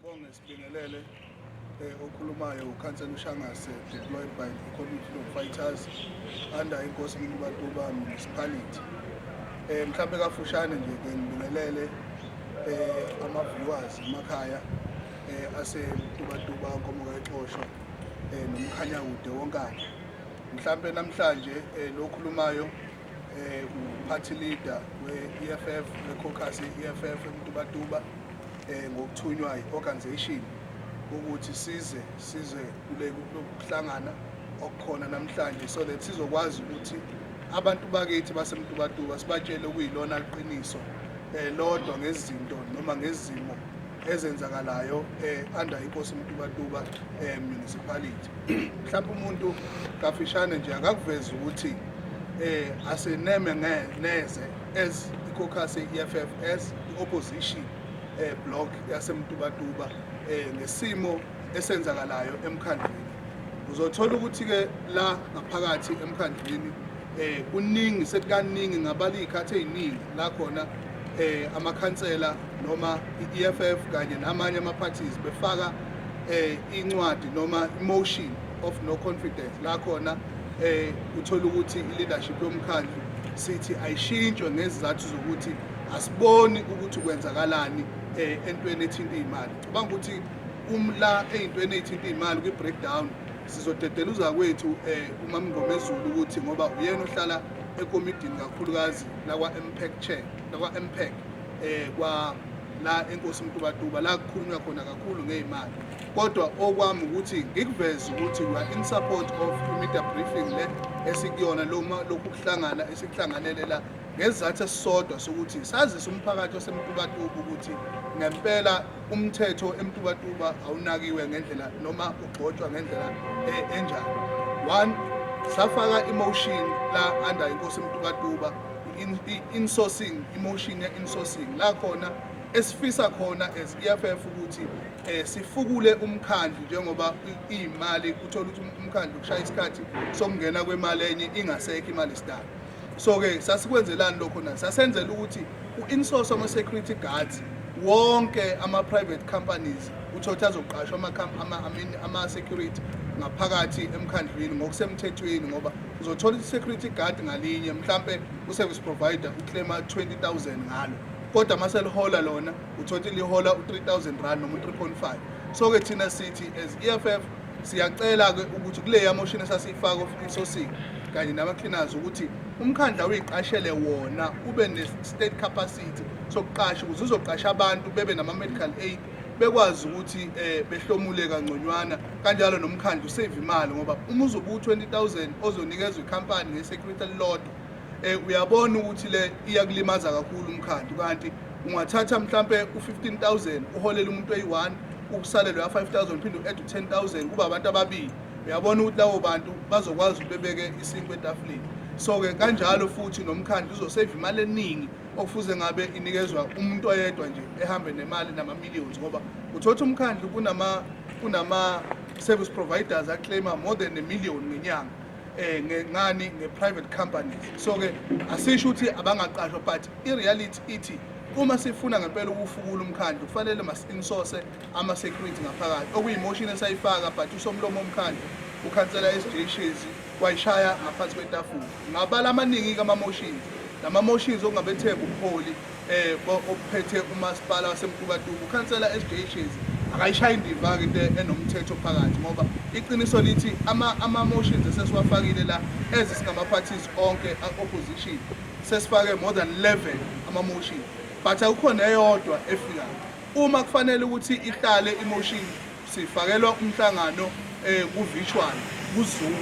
Sibonge sibingelele eh, okhulumayo ukhansela ushangase deployed by the community of fighters under inkosi mntubatuba municipality um mhlawumbe kafushane nje ke ngibingelele um ama-viewers emakhaya um asemtubatuba nkomokaxosho um nomkhanyakude wonkana mhlawumbe namhlanje um lokhulumayo eh uphathi leader we-EFF we-caucus ye-EFF eMtubatuba eh ngokuthunywa i-organization ukuthi size size kule kuhlangana okukhona namhlanje so that sizokwazi ukuthi abantu bakithi basemtubatuba sibatshele okuyilona iqiniso eh lodwa ngezinto noma ngezimo ezenzakalayo eh under inkosi mtubatuba eh municipality mhlawumbe umuntu kafishane nje akakuveza ukuthi eh aseneme neze as i-caucus ye-EFFS i-opposition eh block yasemtubatuba eh ngesimo esenzakalayo emkhandlwini uzothola ukuthi ke la ngaphakathi emkhandlwini eh kuningi sekukaningi ngabala izikhathi eziningi la khona eh amakhansela noma iEFF kanye namanye ama parties befaka eh incwadi noma motion of no confidence la khona eh uthola ukuthi ileadership yomkhandlu sithi ayishintshwe ngezizathu zokuthi asiboni ukuthi kwenzakalani eh entweni ethinta imali cabanga ukuthi umla ezintweni ezithinta imali kwi breakdown Sizodedela uzakwethu eh, uMamngomezulu ukuthi ngoba uyena ohlala ekomidini kakhulukazi lakwa-mpac chair lakwa-mpac um eh, kwa la enkosi mtubatuba la kukhulunywa khona kakhulu ngey'mali kodwa okwami ukuthi ngikuveze ukuthi we are in support of i-media briefing le esikuyona loma lokhu kuhlangana esikuhlanganele la ngesizathu esisodwa sokuthi sazise umphakathi wasemtubatuba ukuthi ngempela umthetho emtubatuba awunakiwe ngendlela noma ugxotshwa ngendlela e, enjani one safaka emotion la under inkosi emtubatuba insourcing emotion ya insourcing la khona esifisa khona as EFF ukuthi eh sifukule umkhandlu njengoba imali uthola ukuthi umkhandlu kushaya isikhathi sokungena kwemali enye ingasekho imali sidala so-ke sasikwenzelani lokho na sasenzela ukuthi u-insource ama-security guards wonke ama-private companies uthole ukuthi azoqashwa ama-security ngaphakathi emkhandlwini ngokusemthethweni ngoba uzothola i-security guard ngalinye mhlampe u-service provider uclaima 20000 ngalo kodwa uma selihola lona uthole ukuthi lihola u-3000 rand noma u-3.5 so-ke thina sithi as e-f f Siyacela-ke ukuthi kuleya moshini esasiyifaka isosini kanye nama-cleaners ukuthi umkhandla uyiqashele wona ube ne-state capacity sokuqasha ukuze uzoqasha abantu bebe nama-medical aid bekwazi ukuthi um behlomule kangconywana kanjalo nomkhandla usave imali ngoba uma uzobe u-twenty thousand ozonikezwa ikhampani nge-security elilodwa um uyabona ukuthi le iyakulimaza kakhulu umkhandlu kanti ungathatha mhlampe u-15000 uholele umuntu eyi-one ukusalelwe ya-5000 uphinde u-add u-10000 kuba abantu ababili uyabona ukuthi lawo bantu bazokwazi ukuthi bebeke isinkwa etafuleni so-ke kanjalo futhi nomkhandlu uzoseyiva imali eningi okufuze ngabe inikezwa umuntu oyedwa nje ehambe nemali nama-millions ngoba uthotha umkhandlu kunama-service providers aclaima more than a million ngenyanga um ngani nge-private companies so-ke asisho ukuthi abangaqashwa but I-reality ithi uma sifuna ngempela ukufukula umkhandlu kufanele masi-insource ama-security ngaphakathi okuyi-motion esayifaka but usomlomo womkhandlu ukhansela SJ Shezi wayishaya ngaphansi kwetafula ngabala amaningi-ke ama-motions nama-motions okungabethemba ubuholi um obuphethe umasipala wasemkubatuku ukhansela SJ Shezi akayishayi indiva-ke into enomthetho phakathi ngoba iqiniso lithi ama-motions esesiwafakile la ezisingama-parties onke a-opposition Sesifake more than 11 ama motion but akukho neyodwa efikayo. Uma kufanele ukuthi ihlale imotion sifakelwa umhlangano eh ku virtual ku Zoom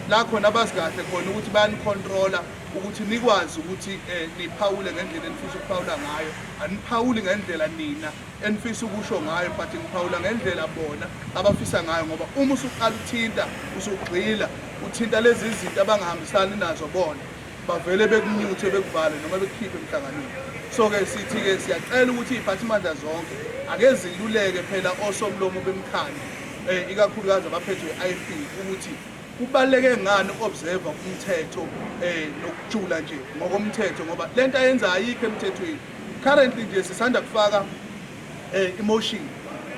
la khona abazi kahle khona ukuthi bayani controller ukuthi nikwazi ukuthi eh, niphawule ngendlela enifisa ukuphawula ngayo aniphawuli ngendlela nina enifisa ukusho ngayo but ngiphawula ngendlela bona abafisa ngayo ngoba uma usuqala uthinta usugxila uthinta lezi zinto abangahambisani nazo bona bavele bekunyuthe bekuvale noma bekukhiphe emhlanganweni so-ke sithi-ke siyacela ukuthi iy'phathimandla zonke ake ziluleke phela osomlomo bemkhandlu um eh, ikakhulukazi abaphethwe i-i p ukuthi kubaluleke ngani uku-observa umthetho um nokujula nje ngokomthetho ngoba le nto ayenza ayikho emthethweni currently nje sisanda kufaka Eh emotion.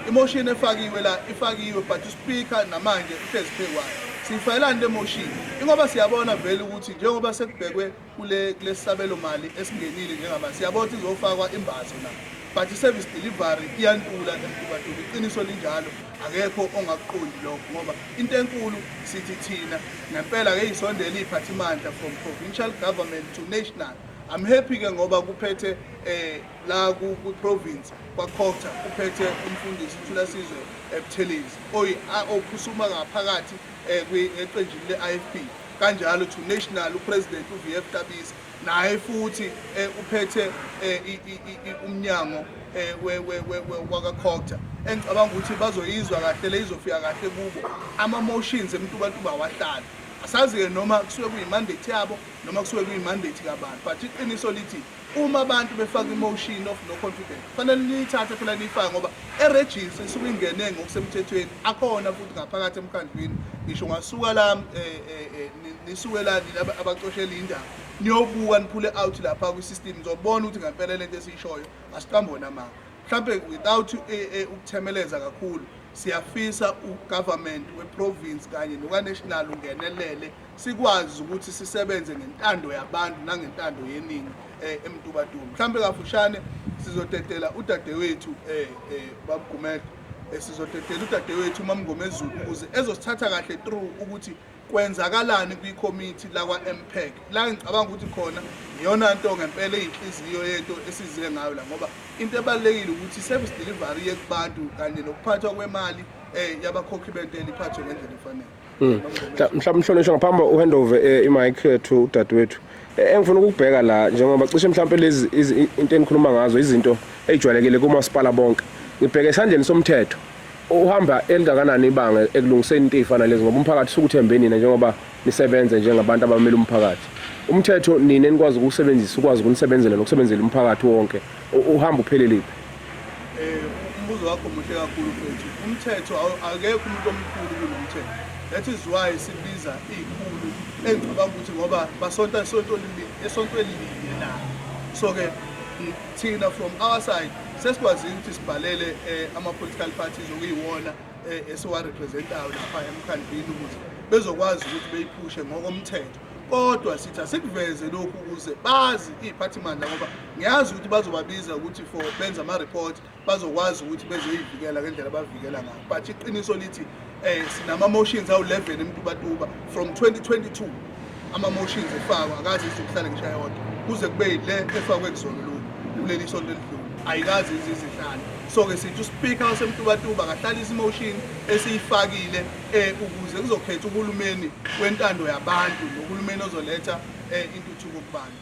Emotion efakiwe la ifakiwe but uspeaker namanje uhlezi phekwayo. Siyifayelani le motion? Ingoba siyabona vele ukuthi njengoba sekubhekwe kule kulesabelo mali esingenile njengama siyabona ukuthi izofakwa imbazo na. But service delivery iyantula emkubatuka iqiniso linjalo akekho ongakuqondi lokho ngoba into enkulu sithi thina ngempela ke isondela iphathimandla from provincial government to national I'm happy ke ngoba kuphethe eh la kwiprovince kwacota kuphethe umfundisi uthulasizwe ebuthelezi ophusuma ngaphakathi eh, eqenjini le-ifp kanjalo to national upresident uvf tabisa naye futhi eh, uphethe eh, umnyango wakacota engicabanga ukuthi bazoyizwa kahle le izofika kahle kubo ama-motions emntubantuba awahlali asazi-ke noma kusuke kuyimandate yabo noma kusuke kuyimandate kabantu but iqiniso lithi Uma abantu befaka imotion of no confidence kufanele niyithathe phela niyifake ngoba erejista isuke ingene ngokusemthethweni akhona futhi ngaphakathi emkhandlwini ngisho ngasuka la eh, eh, eh, nisuke la nina abacoshela indaba niyobuka niphule out lapha kwi-system nizobona ukuthi ngempela lento esiyishoyo asiqambona manga mhlawumbe without ukuthemeleza kakhulu siyafisa ugovernment weprovince kanye nokaNational ungenelele sikwazi ukuthi sisebenze ngentando yabantu nangentando yeningi eh, emtubatuba mhlawumbe kafushane sizodedela udadewethu eh, eh, babugumede eh, sizodedela udadewethu umamngomezulu ukuze ezosithatha kahle through ukuthi kwenzakalani kwikhomithi lakwa-mpec la ngicabanga ukuthi khona iyona nto ngempela eyinhliziyo yento esize ngayo la ngoba into ebalulekile ukuthi i-service delivery yekubantu kanye nokuphathwa kwemali um yabakhokhi bentela iphathwe ngendlela efanele Mm. Mhlawumbe mhlonishwa ngaphambi uhandover eh, imic eh, to udadewethu. Eh, engifuna ukubheka la njengoba cishe mhlawumbe lezi into enikhuluma ngazo izinto ejwayelekile kumasipala bonke. Ngibheke esandleni somthetho. Uhamba elingakanani ibanga ekulungiseni into efana lezi ngoba umphakathi sukuthembe nina njengoba nisebenze njengabantu abamele umphakathi. Umthetho nina enikwazi ukusebenzisa ukwazi ukunisebenzela nokusebenzela umphakathi wonke. Uhamba upheleliphi? Eh umbuzo wakho muhle kakhulu mfethu. Umthetho akekho umuntu omkhulu kunomthetho. That is why sibiza izikhulu engicabanga ukuthi ngoba basonta esontweni esontweni linye na. So ke thina from our side sesikwazile ukuthi sibhalele eh, ama-political parties okuyiwona eh, esiwarepresentayo lapha emkhandlwini ukuthi bezokwazi ukuthi beyiphushe ngokomthetho kodwa sithi asikuveze lokhu ukuze bazi iy'phathimandla ngoba ngiyazi ukuthi bazobabiza ukuthi for benza ama-report bazokwazi ukuthi bezoyivikela ngendlela abavikela ngayo but iqiniso lithi um sinama-motions awu-11 emtubatuba from 2022 ama-motions efakwa akazi izokuhlala ngisho yodwa kuze kube yile efakwe kuzona kuleli sonto elidlule ayikazi izizihlala so-ke sithi uspika wasemtubatuba akahlalisa imotion esiyifakile eh, ukuze kuzokhetha uhulumeni wentando yabantu nohulumeni ozoletha eh, intuthuko kubantu